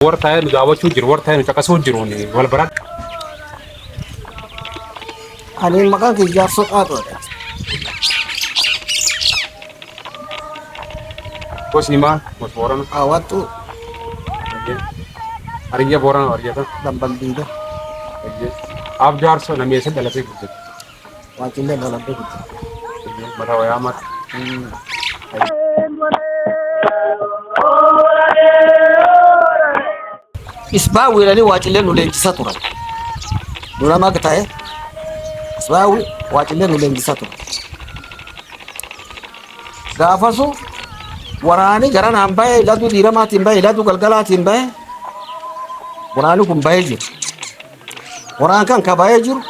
Warra taa'ee nu daawwachuu jiru, warra taa'ee nu caqasuu jiru wal baradha. Ani maqaan kee jaarsoo qaatoodha. Gosi himaa, gosi boorana. Haawwattuu Hariyya boorana hariyya ta'a. dambal diida. Abjaarsoo nameessa dhalatee guddate. Waaqillee lola beekti. Mata wayaa mata. Isbaa wiilanii waacillee nu leenjisaa turan. Duramaa akka ta'e isbaa waacillee nu leenjisaa turan. Gaafasu waraanii gara naan bahe laduu diiramaatiin bahe laduu galgalaatiin bahe waraanii kun bahee jiru. Waraan kan ka bahee jiru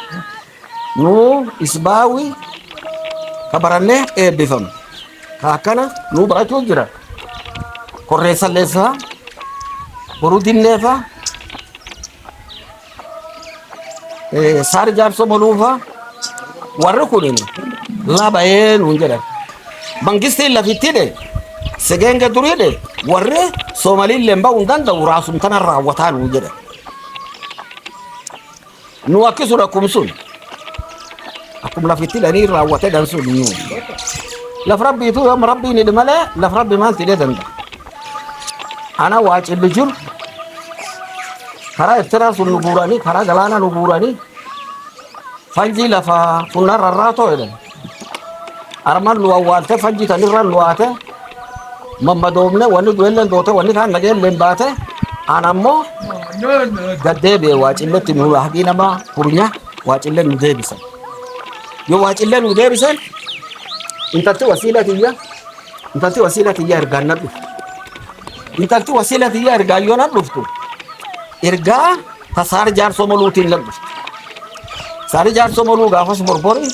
Nuu isbaawii ka barannee eebbifama. Ka akkana nuu barachuu jira. Korreessallee faa, boruu dinnee faa, eh, saari jaarsoo moluu faa. Warri kun labayee nuun jedhan. Mangistiin lafitti dhe, segeenge durii dhe, warri Soomaliillee ba'uu hin danda'u raasum kana raawwataa nuun jedhan. Nu akkisu rakkum sun. Akkum lafitti dhanii raawwate dhan sun nu. Laf rabbiitu yoom rabbiin hidhi malee laf rabbi maal tidhee danda'a. Ana waa cillu jiru. Karaa Ertiraa sun nu guuranii karaa galaanaa nu guuranii fanjii lafa funnaa rarraatoo jedhan. Armaan nu awwaalte fajjii tanirra nu haate mammadoomne wanni du'elleen doote wanni kaan nageelleen baate aan ammoo gaddeebi'e waacilletti nu haqii nama kurnya waacille nu deebise yoo waacille nu deebise intalti wasiila tiyya intalti wasiila tiyya ergaan na dhuftu intalti wasiila tiyya ergaan yoo na dhuftu ergaa ka saari jaarsoo moluutiin labbifte. Saari jaarsoo moluu gaafas borbori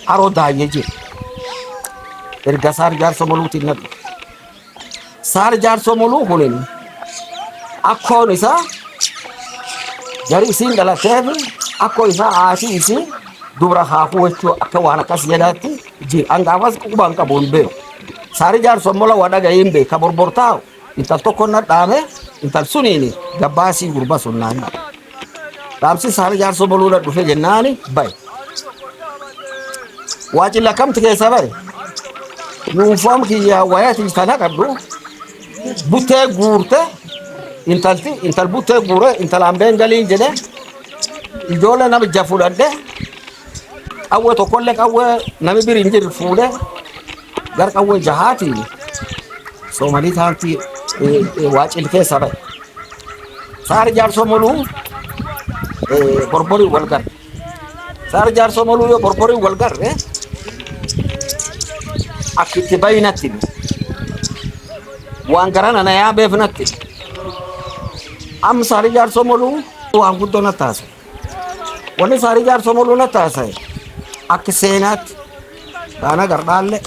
haroo daayye jira. Erga saari jaarsoo moluutiin labbifte. Saari jaarsoo moluu kunin akkoon isaa jari isiin dhalatee fi akkoo isaa haasii isii dubra haafuu jechuu akka waan akkas jedhaatti jira. An gaafas qubaan qabu hin beeku. Saari jaarsoo mola waa dhaga'ee hin beeku. Ka borbortaa'u. Intal tokko na dhaame intal suniini gabbaasii gurba sun naan jedhe. Dhaamsi isaanii jaarsoo boluu na dhufe jennaani baye. Waa cilla kamti keessa baye. Yuunfoom kiyya wayatii sana qaddu buttee guurte intalti intal buttee guure intal ambeen galiin jedhe ijoollee nama ija fudhadhe qawwee tokkollee qawwee nami biri hin jirre fuudhe Gar qawwee jahaatiin soomalii taantii waacil keessa ba'e. Saari jaarsoo moluu borborii wal garre. Saari jaarsoo moluu yoo borborii wal garre akka itti bayi natti hime. Waan garana na yaabeef natti hime. Amma saari jaarsoo moluu waan guddoo natti haasa'e. Wanni saarii jaarsoo moluu na taasise akka seenaatti dhaana gardhaalle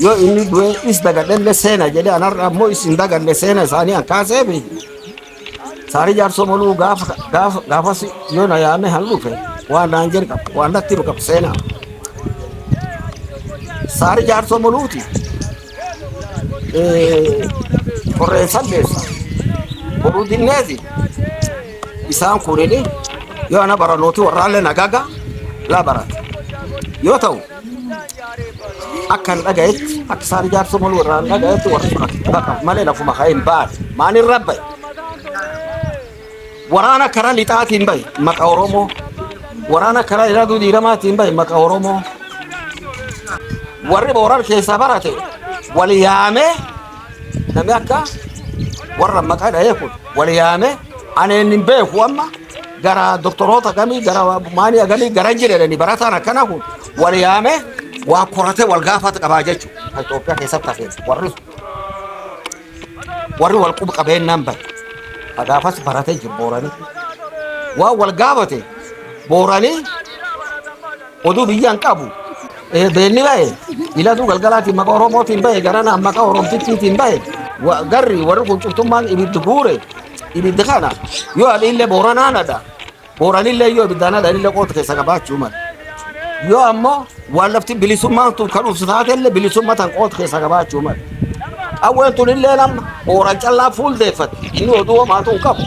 yoo inni du'e is dagadhelle seena jedhe anarra ammoo is hin daganne seena isaanii an kaasee fi saarii jaarsoo moluu gaafa gaafa gaafas yoo na yaame han dhufe waan naan jedhe qaba waan natti himu qaba seenaa saarii jaarsoo moluuti qorreen salleessa boruu dinneefi isaan kunini yoo ana baranooti warraallee nagaga laa barata yoo ta'u akka hin dhagayetti akka isaan ijaarsa maluu irraa hin dhagayetti warri sun akka hin dhaqabu malee lafuma ka'ee hin baane maaliin rabbaye Waraana karaa lixaatiin bahe maqa Oromoo. Waraana karaa ilaaluu diiramaatiin bahe maqa Oromoo. Warri booran keessaa barate wal yaamee namni akka warra maqaa dhahee kun wal yaamee ani inni hin beeku amma gara doktoroota gamii gara maanii agamii gara hin jedhani barataan akkana kun wal yaamee waa koratee wal gaafata qabaa jechuudha. Itoophiyaa keessatti hafee warri sun. Warri wal qub qabeennaan bare. Ka gaafas barate jiru Booranii. Waan wal gaafate Booranii oduu biyya hin qabu. Eh, Beenni bahe ilatuu galgalaatiin maqaa Oromootiin bahe garanaan maqaa Oromtittiitiin bahe. Wa- Garri warri kun cuftummaan ibiddi guure ibiddi kana yoo adhiillee Booranaan adha. Qoranillee yoo ibiddaan hadhanillee qooda keessa qabaachuu mala. Yoo ammoo waan lafti bilisummaan tun kan dhuftu taatellee bilisummaa tan qooda keessa qabaachuu mala. Qawween tunillee amma qooran callaa fuuldeeffatti inni oduu homaatu hin qabu.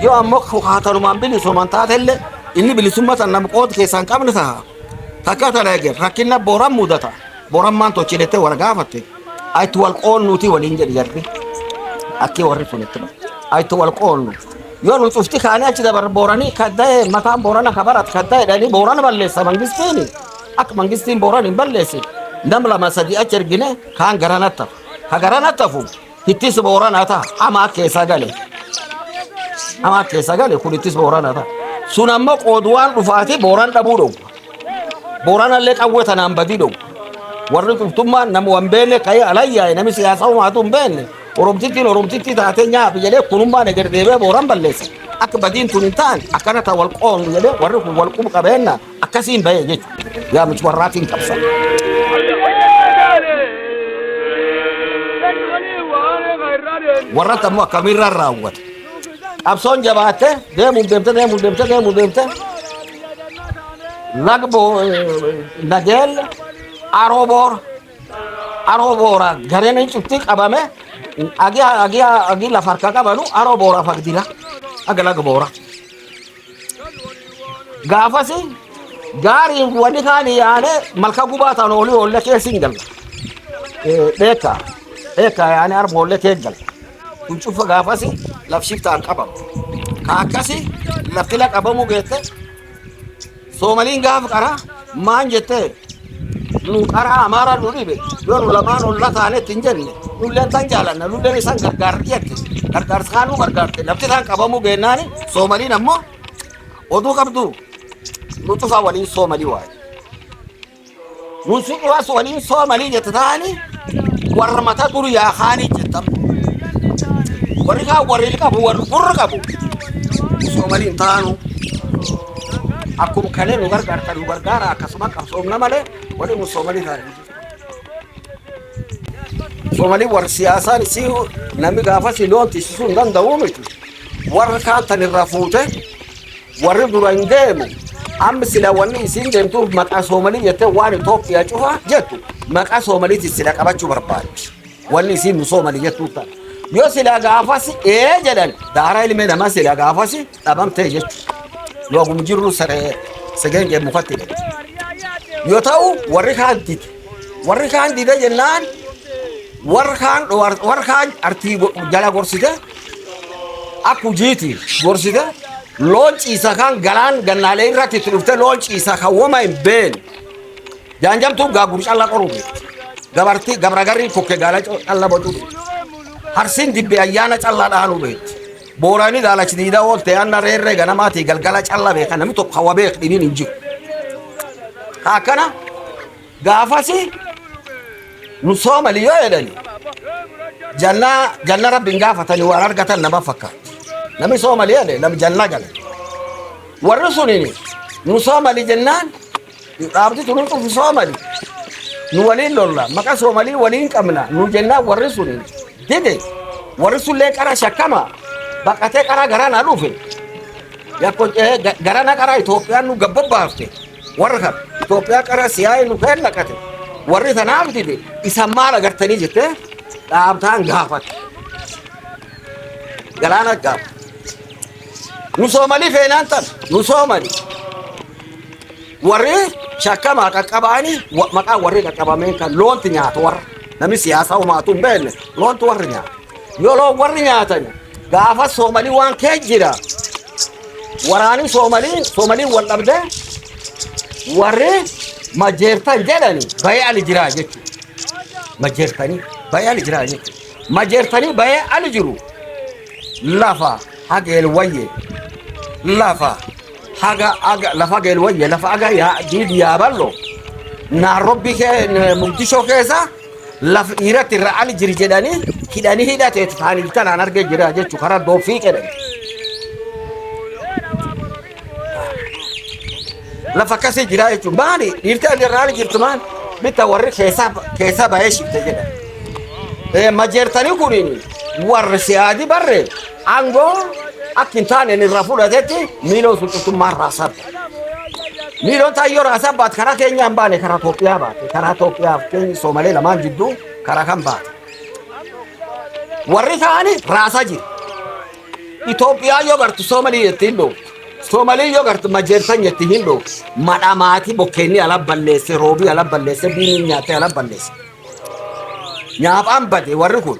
Yoo ammoo kukaatanumaan bilisooman taatellee inni bilisummaa tan nama qooda keessa hin qabne taha. Takka tana eegan rakkinna booran mudata. Bor ammaan tochi jettee wal gaafatte itti wal qoonnuuti waliin jedhi jarri akkii warri kun itti bara. Itti wal qoonnu. Yoo nu cufti kaanii achi dabar booranii kadda'e mataan boorana kabarat kadda'e jedhanii boorana balleessa mangistiini. Akka mangistiin boorana hin balleessin nam lama sadii achi ergine kaan garanatta. Ka garanattafu Ittis booranaa ta'a. Hamaa keessa gale. Hamaa keessa gale kun ittis booranaa ta'a. Sun amma qooduwaan dhufaati booran dhabuu dhowwa. Booranallee qawwee tanaan badii dhowwa. Warri cuftummaan nama waan beekne ka'ee alayyaa'e namni siyaasa uumaatu hin beekne. Oromtittiin oromtittii taatee nyaaphi jedhee kunummaan eger deebi'ee booran balleessa. Akka badiin tun hin taane akkana ta'a wal qoonu jedhee warri kun wal qubu qabeenna. Akkasiin bahee jechuudha. Yaa miti warraatiin qabsa. Warratti ammoo akkamiirraan raawwata. Qabsoon jabaatte deemuun deemte deemuun deemte deemuun deemte lagbo nageel aroo boora aroo boora gareen hin cufti qabame agi agi agi lafa harka qabanu aroo boora fagdila aga laga boora. gaafasi gaariin wani kaan yaane malka gubaa tan oli olle keessin gal dheeka dheeka yaane arba olle kee gal kun cufa gaafasi lafshiftaan qabamu ka akkasi lafila qabamu geette Soomaliin gaafa qaraa maan jettee nu qaraa amaaraa nu dhibe yoo nu lamaan olla taanetti hin jenne nulleen tan jaalanna nulleen isaan gargaarra jette gargaarsa kaan nu gargaarte lafti isaan qabamuu beennaani soomaliin ammoo oduu qabdu nu cufaa waliin soomalii waaye. Nuti dhiwas waliin soomanii jette taa'anii warra mata duru yaa kaanii jettam. Warri kaan warri qabu warri gurra qabu soomanii hin taa'anu. Akkuma kalee nu gargaarta nu gargaara akkasuma qabsoomna malee warri nu soomanii taa'anii jiru. Soomanii warri siyaasaan isii namni gaafas loon tisiisuu hin danda'u miti. Warra kaan tan irraa fuute Warri duran deemu amma sila wanni isiin deemtuuf maqaa soomalii jettee waan Itoophiyaa cufa jettu maqaa soomaliitiin sila qabachuu barbaaddi. Wanni isiin nu soomali jettuu ta'a. Yoo sila gaafasi ee jedhan daaraa ilmee namaa sila gaafasi dhabamtee jechuudha. Yoo akkuma jirru saree segeengee mukatti hidhatti. Yoo ta'u warri kaan dide. Warri kaan dide jennaan warri kaan warri kaan artii jala gorsite akka hujiiti gorsite loon ciisa kan galaan gannaalee irratti itti dhufte loon ciisa kan woma hin been jaanjamtuu gaaguru calla qoruu fi gabartii gabragarrii kokke gaala co- calla bocuu fi harsiin dibbe ayyaana calla dhaanuu beekti boorani daalachi diidaa oolte aanna reerree ganamaatii galgala calla beeka namni tokko hawa beek dhibiin hin jiru Ka akkana Gaafasi nu soomali yoo jedhani janna janna rabbiin gaafatani waan argatan nama fakkaatti. Nami soomali jedhe nam janna gale. Warri sunini nu soomali jennaan dhaabdi tunu cufi soomali nu waliin lolla maqa soomalii waliin qabna nu jennaan warri sunini dide warri sullee qara shakkama baqatee qara garana dhufe yakko eh, ga- garana qara Itoophiyaan nu gabba baafte. Warra kan Itoophiyaa qara siyaa'ee nu keen naqate warri tanaaf dide isan maal agartanii jettee dhaabtaan gaafate. Galaana gaafate. Nu soomanii feenaan tan nu soomanii warri shakkamaa qaqqabaanii wa- maqaa warri qaqqabameen kan loonti nyaatu warra namni siyaasaa homaatu hin beekne loontu warri nyaatu. Yeroo warri nyaatan gaafa soomalii waan kee jira. Waraanii soomalii soomalii wal dhabde warri majeertan jedhani bayee ali jiraa jechuudha. Majeertanii bayee ali jiraa jechuudha. Majeertanii bayee ali jiru lafa hageel wayye lafa haga aga lafa hageel wayye lafa aga yaa diidi yaa ballo naarrobbii kee mugdishoo keessa laf dhiiratti irra ali jiri jedhanii hidhanii hidhatee tutaan iltalaan argee jira jechu karaa dooffii jedhan lafa akkasii jira jechuun maali dhiirti ali irra ali jirtu maal bitta warri keessaa keessaa bahee shifte jedhan Eh, majeertanii kuniin warri si'aadi barre Aangoo akka hin taaneen irraa fudhatetti miiloon sun cuftummaa irraa sabba. Miiloon taayyoo irraa sabbaat karaa keenyaan baane karaa Itoophiyaa baate karaa Itoophiyaa fi keenya Soomalee lamaan jidduu karaa kan baate. Warri kaanis raasaa jiru. Itoophiyaa yoo gartu Soomalii itti hin dhooftu. Soomalii yoo gartu majeertan itti hin dhooftu. Madha maatii bokkeenni ala balleesse roobii ala balleesse biiniin nyaatee ala balleesse. Nyaaphaan bade warri kun.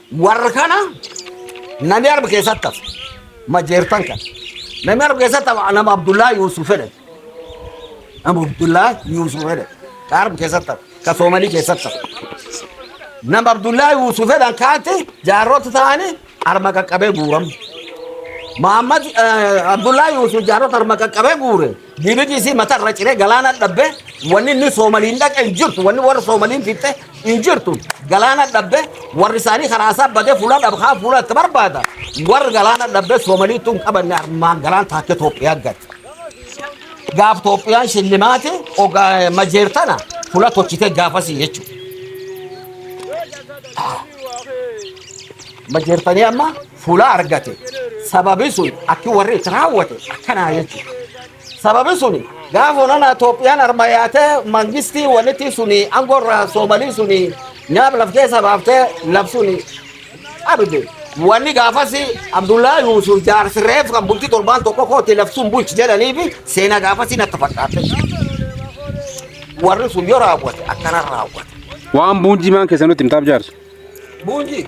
Warra kana namni arba keessatti hafe majeertan kana. Namni arba keessatti hafe nama Abdullaa Yuusuf jedhame. Nama Abdullaa Yuusuf jedhame. Ka arba keessatti hafe. Ka Soomalii keessatti hafe. Nama Abdullaa Yuusuf jedhan kaatti jaarrota ta'anii arma qaqqabee guuramu. Muhammad Abdullaa Yuusuf jaarrota arma qaqqabee guure. Bbc mata irra ciree galaana dhabbe wanni inni soomaliin dhaqe hin jirtu wanni warri soomaliin fixxe hin jirtu galaana dhabbe warri isaanii karaa isaa badee fuula dhab haa fuula itti barbaada warri galaana dhabbe soomalii tun qabanne armaan galaan taakkee Itoophiyaa gad gaaf Itoophiyaan shillimaate ogaa majeertana fuula tochitee gaafasii jechuudha majeertanii amma fuula argate sababi sun akki warri itti raawwate akkanaa jechuudha. Sababi sun gaafa onana Itoophiyaan arma yaatee mangistii walitti suni aangoo irraa soomalii suni nyaab laf keessa baaftee laf suni qabde. Wanni gaafasi Abdullaa Yuusuf jaarsi reef kan bultii torbaan tokko kootti laf sun bulchi jedhanii fi seenaa gaafasi natti fakkaate. Warri sun yoo raawwate akkana raawwate. Waan buunjimaan keessa nutti himtaaf jaarsu. Buunji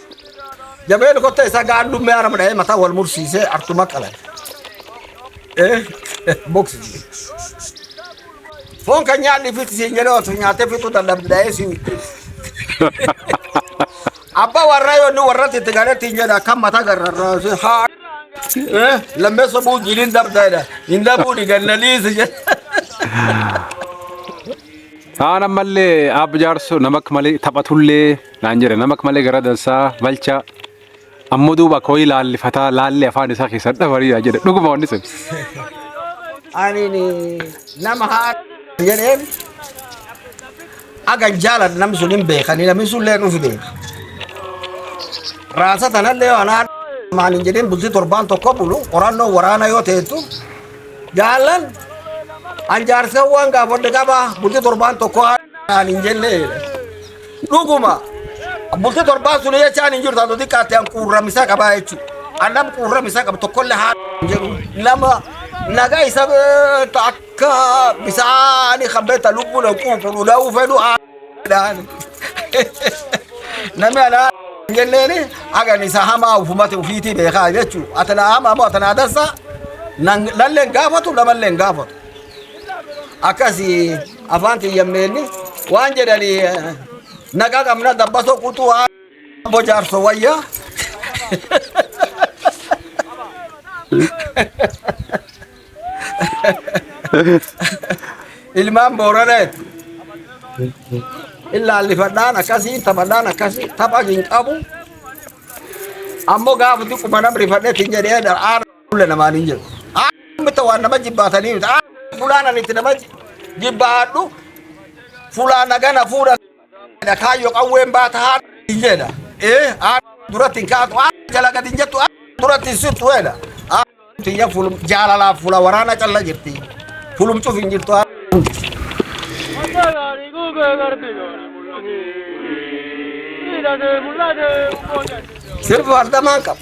Jabeen kotta isaa gaadhummee arama dha'ee mataa wal mursiisee artuma qalan. Boksii. Foon kan nyaanni fixi siin jedhee osoo nyaatee fixuu dadhabde dha'ee si witti. Abbaa warraa yoo inni warratti itti galetti hin jedha akkam mataa garrarraa si haa. Lammeessa buu jiliin dabdaadha. Hin dabuu dhigannaliisi jedha. Aan ammallee aab jaarso nama akka malee taphatullee naan jedhe nama akka malee gara dansaa balcha ammoo duuba akka wayii laallifataa laallee afaan isaa keessaa dhabariidha jedhe dhuguma wanni sun. ani nama haa jedheen agan jaalan nam sun hin beekani namni sun lee nufi beeka raasa tanallee anaa maal hin jedhin bultii torbaan tokko bulu qorannoo waraana yoo teettu jaalan an jaarsa waan gaafadhe qaba bultii torbaan tokko haa- naan hin jenne jedhe Dhuguma bultii torbaan sun jechaan hin jirtu haa xiqqaatte an quurramisa qabaa jechuudha. An nam quurramisa qabu tokkollee haa jedhu nama nagaa isa beektu akka bisaanii kan beekta lubbuu na quufu dhudhaa'uu fedhu haa jedhaan. Namni anaa hin jenneeni hagan isa hamaa ufumate ufiitii beekaa jechuudha. Ati na hamaa moo ati na dansaa? Nan- Nallee hin gaafatu namallee hin gaafatu. Akkasii Afaan tiyyan meenni waan jedhani naqa qabna dabbaso quxuu haa abbo jaarso wayya. Ilmaan booranee illaalifadhaan akkasii taphadhaan akkasii tapha hin qabu. Ammoo gaafa xiqquma nam rifadhe tin jedhee dha. Fuula namaan hin jiru. Aamitta waan nama jibbaatanii miti. Fulaan ani itti nama jibbaadhu fulaa nagana fuudha kaayyoo qawween baata haa hin jedha. Ee duratti hin kaatu jala gadi hin jettu duratti hin sirtu jedha. Tiyya jaalalaaf fula waraana calla jirti. Fulumcuuf hin jirtu. Sirbi wardamaan qaba.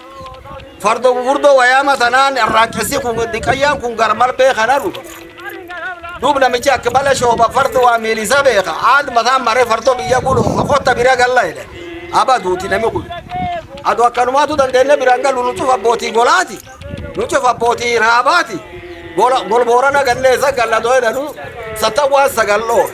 farda gurguddoo wayaama sanaan arraaqessi kun diqayyaan kun garmarbee kana dhufa duub namichi akka bala shooba farda waa miilisa beeka aad mataan maree fardoo biyya gulu okotta bira galla jedhan aba duuti nami kun adu akkanumaatu dandeenne biraan galu nu cufa abbootii golaati nu cufa abbootii raabaati golboorana ganneessa galla doo jedhanu sattawwaan sagal dhoore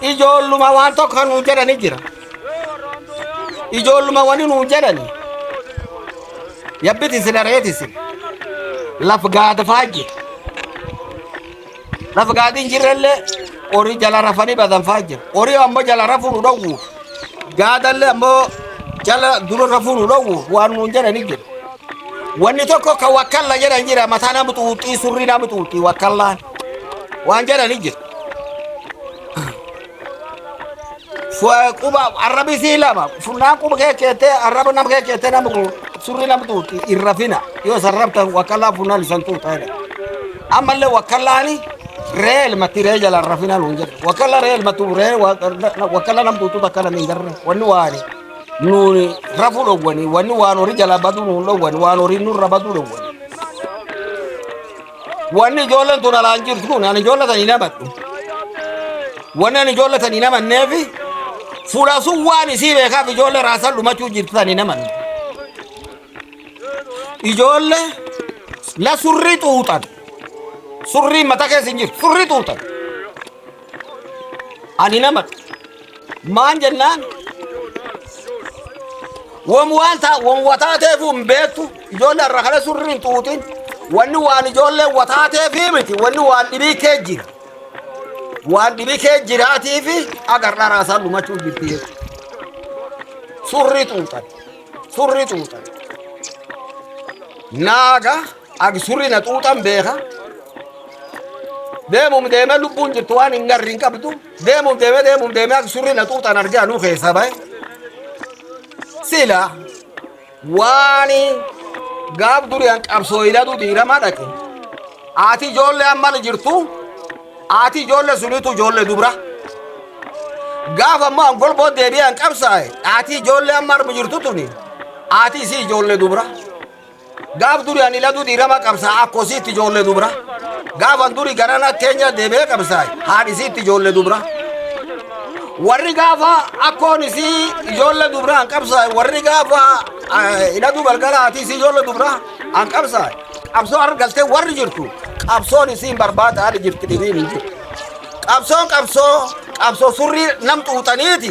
ijoolluma waan tokko kan nuun jedhani jira ijoolluma wani nuun jedhani yabbiti isin areeti isin laf gaada faajje laf gaadi hin jirrellee horii jala rafanii badan faajje horii ammoo jala rafuu nu dhowwu gaadallee ammoo jala dura rafuu nu dhowwu waan nuun jedhani jira wanni tokko ka wakkalla jedhan jira mataa nama xuuxxii surrii nama xuuxxii wakkallaan waan jedhani jira Fu- quba arrabi sii lama funnaan quba kee keettee arraba nama kee keettee nama gu- surri nama tuuti hin rafina yoo san raftan wakkallaa funnaan isan tuuta jedhe ammallee wakkallaani ree ilmatti ree jala hin rafina nuun jedhe wakkalla ree ilmattu ree wa- na- wakkalla nam tuutu takka nama hin garre wanni waani nuuni rafuu dhowwani wanni waan horii jala baduu nuun dhowwani waan horii nurra baduu dhowwani Wanni ijoolleen tun alaan jirtu kun ani ijoollee tan hin amadhu. Wanni ani ijoollee tan hin amanneef fuula sun waan isii beekaaf ijoollee raasan dhumachuu jirtu tan hin amanne. Ijoollee la surrii xuuxan. Surrii mata keessa hin jirtu. Surrii xuuxan. Ani hin amadhu. Maan jennaan wam waan taa wam wataateefu hin beektu ijoollee irra kana surri hin xuuxin wanni waan ijoollee wataateefi miti wanni waan dhibii kee jira waan dhibii kee jiraatiifi agar dharaa isaan dhumachuu jirti jechuudha. Surri xuuxan surri xuuxan naaga ag surri na xuuxan beeka deemum deemee lubbuun jirtu waan hin garri hin qabdu. Deemuun deemee deemuun deemee akka surri na xuuxaan argee anuu keessaa bahe. Sila waan gaaf duriyaan qabsoo ilaluu diiramaa dhaqe. Ati ijoollee amma jirtu ati ijoollee sunitu ijoollee dubra. Gaaf ammoo an golboo deebi'ee an qabsaa'e ati ijoollee amma armu jirtu tuni ati isii ijoollee dubra. Gaaf duri ani ladu dirama qabsa akko isiitti ijoollee dubra. Gaafan duri garana Kenya deebi'ee qabsaa'e haadhi isiitti ijoollee dubra. Warri gaafa akkoon isii ijoollee dubra an qabsaa'e warri gaafa hidhatu galgala haati isii ijoollee dubra an qabsaa'e. Qabsoo argalte warri jirtu qabsoon isiin barbaada haali jirti dhibiin hin jirtu. Qabsoon qabsoo qabsoo surrii nam xuuxaniiti.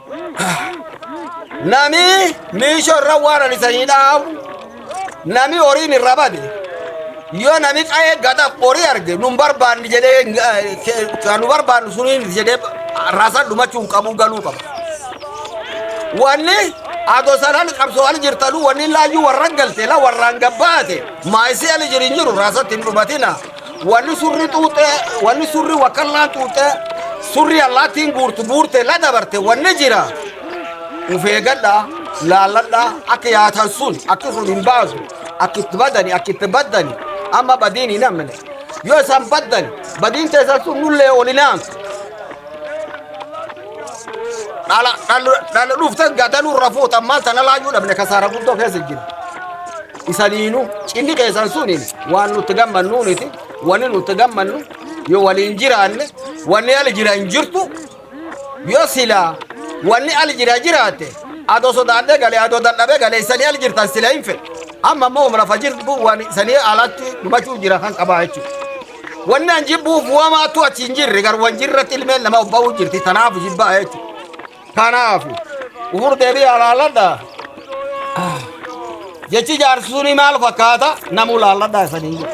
Nami miisho irra waan ani sanii dhaabu nami horiin irra bade yoo nami qa'ee gadaf horii arge nun barbaanni jedhee kan nu barbaannu suniin jedhee rasan dhumachuu hin qabu galuu qaba. Wanni adoo sanaan qabsoo'an jirtanuu wanni laayyuu warra galte la warraan gabbaate maayisii ali jirin jiru rasatti hin dhumatina. Walli surri xuuxee, walli surri wakallaan xuuxee, surri allaattiin guurtu guurte la dabarte wanni jira. Uf eegadha, laalladha, akka yaatan sun, akki sun hin baasu, akki itti badani, akki itti baddani, amma badiin hin amne. Yoo isaan baddani, badiin teessan sun nullee ol hin aansu. Dhala, dhala, dhala dhufte gadanuu irra fuutan maal tana laayyuu dhabne kasaara guddoo keessa jira. isaniinu cinni keessan suniin waan nutti gammannuuniti wanni nutti gammannu yoo waliin jiraanne wanni ali jira hin jirtu yoo silaa wanni ali jira jiraate adoo sodaadhee galee adoo dadhabee galee isanii ali jirtan sila hin fedhe amma ammoo humna fajirtu waan isanii alatti dhumachuu jira kan qabaa jechuudha. Wanni an jibbuuf wamaatu achi hin jirre garuu wan jirratti ilmeen nama obba'uu jirti tanaaf jibbaa jechuudha. Kanaafu ufur deebii alaalladha. Jechi jaarsi suni maal fakkaata namu laalladha isaniin jedha.